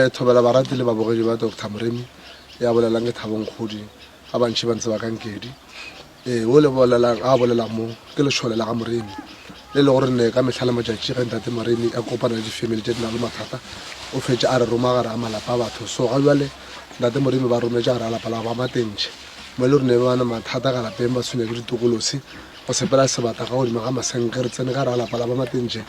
Eh, thobela barati le babogedi ba dr moremi ya bolelang ke thabong kgodi ga bantšhi ba ntse ba kankedi ee o le bolelang a bolelang mo ke lešole la ga moremi le le gore ne ka mehla le matšatši ge ntate moremi a kopana le difamily tše di na le mathata o fetše a re roma gare a malapa a batho so ga jale ntate moremi ba rometše gare a lapa la ba matentšhe mo e le gore ne bana mathata ka lapeng ba tshwenya ke ditokolosi go sepela sebata ka godimo ga masenke re tsene ka re a lapa la ba matentšhe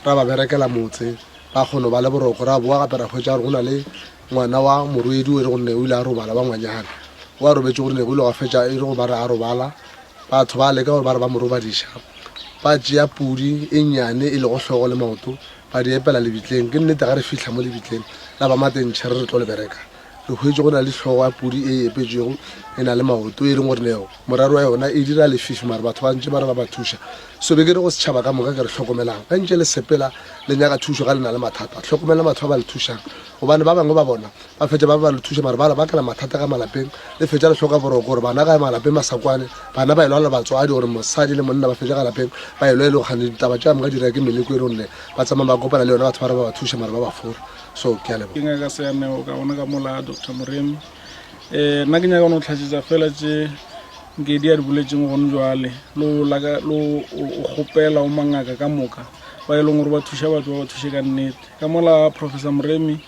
ra ba berekela motse Ba kgono ba le boroko, ra boa gape ra hwetša gore go na le ngwana wa morwedi o e le gore ne o ile a robala wa ngwanyana o a robetše gore ne go ile gwa fetša e le go ba re a robala. Batho ba leka gore ba re ba mo robadiša, ba tšea pudi e nnyane e lego hlogo le maoto ba di epela lebitleng. Ke nnete ga re fihla mo lebitleng la ba matentšhere re tlo le bereka, Re hwetše go na le hlogo ya pudi e epetšwego e na le maoto e leng gore neo moraro wa yona e dira lefifi mare batho ba ntše ba re ba ba thuša so be ke re go setšhaba ka moka ke re hlokomelang ge ntše le sepela le nyaka thušo ga le na le mathata hlokomela batho ba ba le thušang gobane ba bangwe ba bona ba fetša ba ba le thuša mare ba re ba kela mathata ka malapeng le fetša le hloka boroko gore bana ga malapeng masakwane bana ba e lwala batswadi gore mosadi le monna ba fetša ga lapeng ba e lwa e le go kgane ditaba tša moka dira ke meleko e le gonne ba tsamaya ba kopana le yona batho ba re ba ba thuša mare ba ba fora so ke a leboga. Ke ngaka Seaneo ka gona ka mola Doctor Moremi. Eh nna ke nyaka no tlhatšetsa fela tše Nkedi a di boletseng gone jwale lo laka lo o kgopela o mangaka ka moka ba e leng gore ba thuša batho ba ba thuše ka nnete ka mola Professor Moremi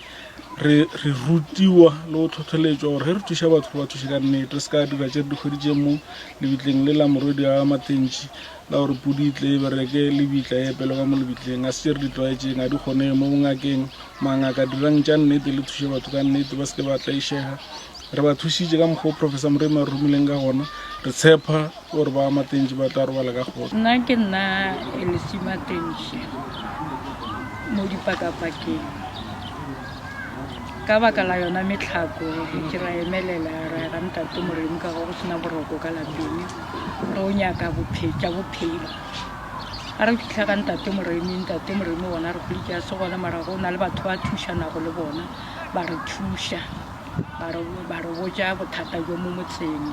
re re rutiwa le go tlhotlheletswa gore ge re thuša batho re ba thuše ka nnete re se ka dira tše re dikgwedi tše mo lebitleng le la morwedi a matentši ka gore pudi e tle e bereke lebitla e epele ka mo lebitleng a se tše re di tlwaetšeng ga di kgonege mo bongakeng mangaka dirang tša nnete le thuše batho ka nnete ba se ke ba tlaišega re ba thušitše ka mokgwa o professor moremi a re romileng ka gona re tshepa gore ba matentši ba tla robala ka kgotsa nna ke nna elesimatentši mo dipakapakeng ka baka la yona metlhako ke ra emelela ra ga ntate moremi ka go go sena boroko ka lapeng re o nyaka tša bophelo a re fitlha ka ntate moremi ntate moremi bona re kgole ke ya se gona mara go na le batho ba thušanago le bona ba re thuša ba re botja bothata jo mo motseng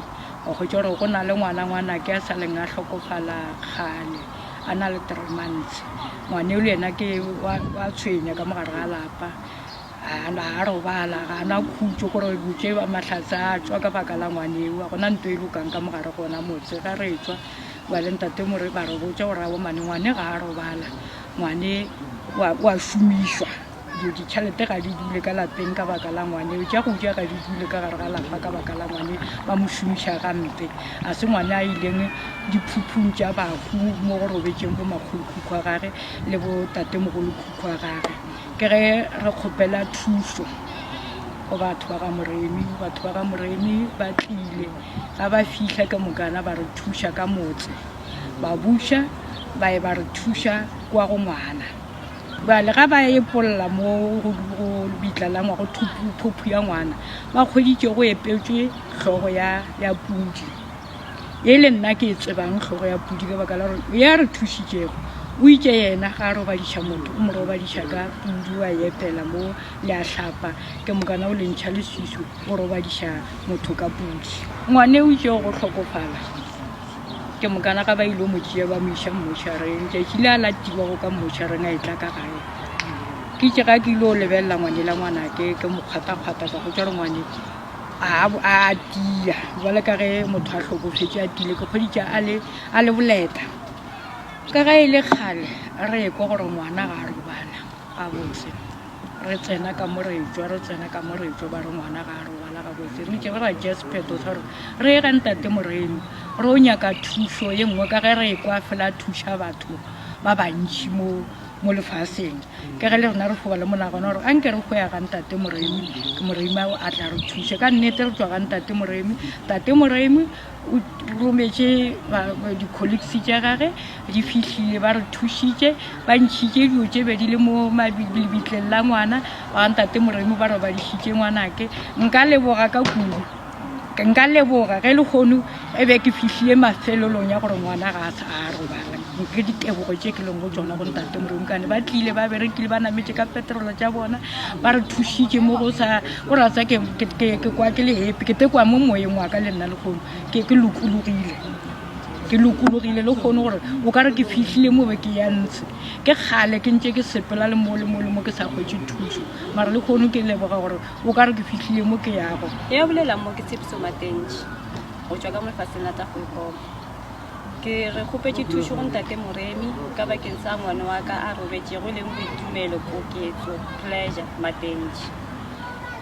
wa kgwetsa gore go na le ngwana ngwana ke a sa leng a tlhokofala kgale a na le three months ngwane le yena ke wa tshwenya ka mogare ga lapa ga robala ga na khutso gore botse ba matlhatse a tswa ka baka la ngwane eo gona nto e lokang ka mogare gona motse ga re tswa ba le ntate mo re ba re botse gore a bomane ngwane ga a robala ngwane wa šomišwa Dilo ditšhalete ga di dule ka lapeng ka baka la ngwane, tša go ja ga di dule ka gare ga lapa ka baka la ngwane, ba mo šomiša gampe. A se ngwane a ileng diphuphung tša bahu mo go robetšeng bo makgolokhukhu a gage le bo tatemogolokhukhu a gage. Ke ge re kgopela thušo go batho ba ga Moremi, batho ba ga Moremi ba tlile ga ba fihla ke mokana ba re thuša ka motse, ba buša ba ye ba re thuša kwa go ngwana. Bjale ga ba epolla mo go bitlalangwa go phophu ya ngwana ba kgweditše go epetšwe hlogo ya pudi e le nna ke e tsebang hlogo ya pudi ka baka la gore ya re thušitšego o itše yena ga a robadiša motho o mo robadiša ka pudi wa epela mo le a hlapa ke mokana o lentšha le sesu o robadiša motho ka pudi ngwane o itšego go hlokofala ke mokana ga ba ile mo tšea ba mo iša mmošareng tšatši le a la tibago ka mmošareng a etla ka gae ke tše ga ke ile o lebelela ngwane la ngwana ke ke mokgwatakgwata ka go tša re ngwane a tia jale ka ge motho a hlokofetse a tile ke kgweditša a le boleta ka ga e le kgale re ekwa gore ngwana ga a robala gabotse re tsena ka mo re tswa re tsena ka mo re tswa ba re ngwana ga a robala gabotse re itse re ra tšea sephetho sa gore re ye ga ntate moreno re o nyaka thuso ye nngwe ka ge re e kwa fela thuša batho ba bantšhi mo mo lefaseng ke ge le rena re foba le monagano gore a nke re go ya ga ntate moremi ke moremi ao a tla re thuše ka nnete re tswa ga ntate moremi tate moremi O rometše di-colleagues tša gage di fihlile ba re thušitše ba ntšhitše dilo tše bedi le mo lebitleng la ngwana ba ntate moremo ba robadišitše ngwanake nka leboga ka kudu nka leboga ge le kgono e be ke fihlile mafelelong ya gore ngwana ga a sa a robala ke ditebogo tše ke leng go tsona go ntate moremo kane ba tlile ba berekile ba nametše ka petrolo tša bona ba re thušitše mo go sa O re a tsa ke, ke, ke, ke kwa ke le happy ke te kwa mo moyeng wa ka le nna lekgono ke, ke lokologile ke lokologile le kgone gore o ka re ke fihlile mo be ke ya ntse ke kgale ke ntse ke sepela le mo le mo le mo ke sa kgwetse thuso mara le kgone ke leboga gore o ka re ke fihlile mo ke yago e ya bolela mo ke tshepiso matentši go tšwa ka mo lefatsheng la tla go ekoma Ke re kgopetše thušo go Ntate Moremi ka bakeng sa ngwana wa ka a robetšego e leng Boitumelo Koketso, Pleasure, Matentši.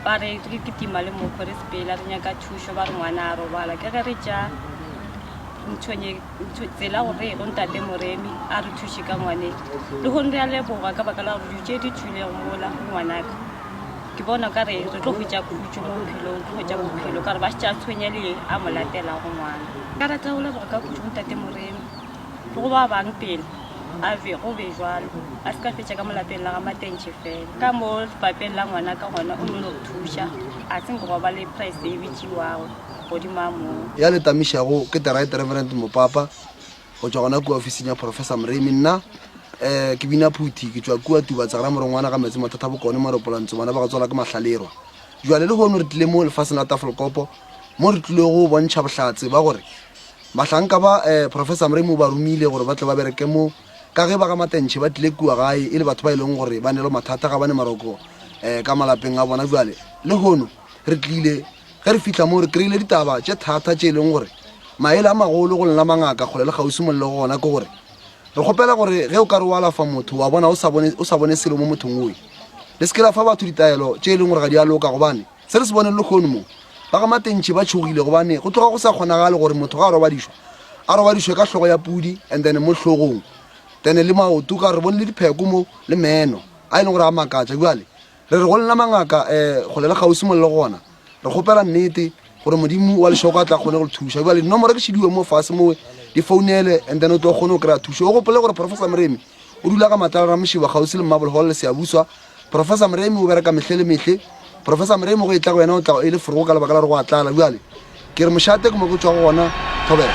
Ba re re kitima le mokgo re sepela re nyaka thušo ba re ngwana a robala ke ge re tša ntšhonye tsela go re go Ntate Moremi a re thuše ka ngwane. Lehono re a leboga ka baka la gore dilo tše di tšwilego mola go ngwanaka. ke bona ka re re tlo hwetša khutšo mo bophelong ke hwetša bophelo ka re ba šetša tshwenya le a mo latelago ngwana ka rata go leboga ka khutšo ntate moreno le go ba bang pele a be go be jalo a se ka fetša ka molapeng la ga matentšhe fela ka mo papeng la ngwana ka gona o no no thuša a se nke go ba le price e bitšiwago godimo a moo ya le tamišago ke the right reverend mopapa go tšwa gona kua ofising ya professor moremi nna um ke bina phuthi ke tšwa kua tubatsagara morongwana ga metsi mathata bokone maropolantso bana ba go tswala ke mahlalerwa jale le gono re tlile mo lefaseng la tafolkopo mo re tlile go bontšha bohlatse ba gore mahlanka ba um professor moremi o ba romile gore ba tle ba bereke mo ka ge ba ga matentšhe ba tlile kua gae e le batho ba e leng gore ba ne le mathata ga ba ne maroko um ka malapeng a bona jale le gono Re tlile, ge re fihla moo, re kry-ile ditaba tše thata tše e leng gore maele a magolo go lena mangaka kgole le kgauswi molelo go gona ke gore re kgopela gore ge o ka re o alafa motho wa bona o sa bone, o sa bone selo mo mothong oe le se ke la fa batho ditaelo tše e leng gore ga di a loka gobane se re se boneng le kgono moo ba ga matentšhe ba tšhogile gobane go tloga go sa kgonagale gore motho ga a robadišwa a robadišwe ka hlogo ya pudi and then mo hlogong then le maoto ka re bone le dipheko mo le meno a e leng gore a makatša bjale Re re go lena mangaka, um kgole le kgauswi mo le le gona, re kgopela nnete gore Modimo wa lešoko a tla kgone go le thuša. Bjale dinomoro ke šidiwe mo fase mowe, di founele and then o tlo kgone go kry-a thušo. O gopole gore Professor Moremi o dula ka Matlala Ramošiba kgauswi le Marble Hall le Seabuswa. Professor Moremi o bereka mehle le mehle. Professor Moremi go e tla go yena o tla e le forogo ka lebaka la gore go a tlala. Bjale ke re mošate ke mo ke tšwago gona thobela.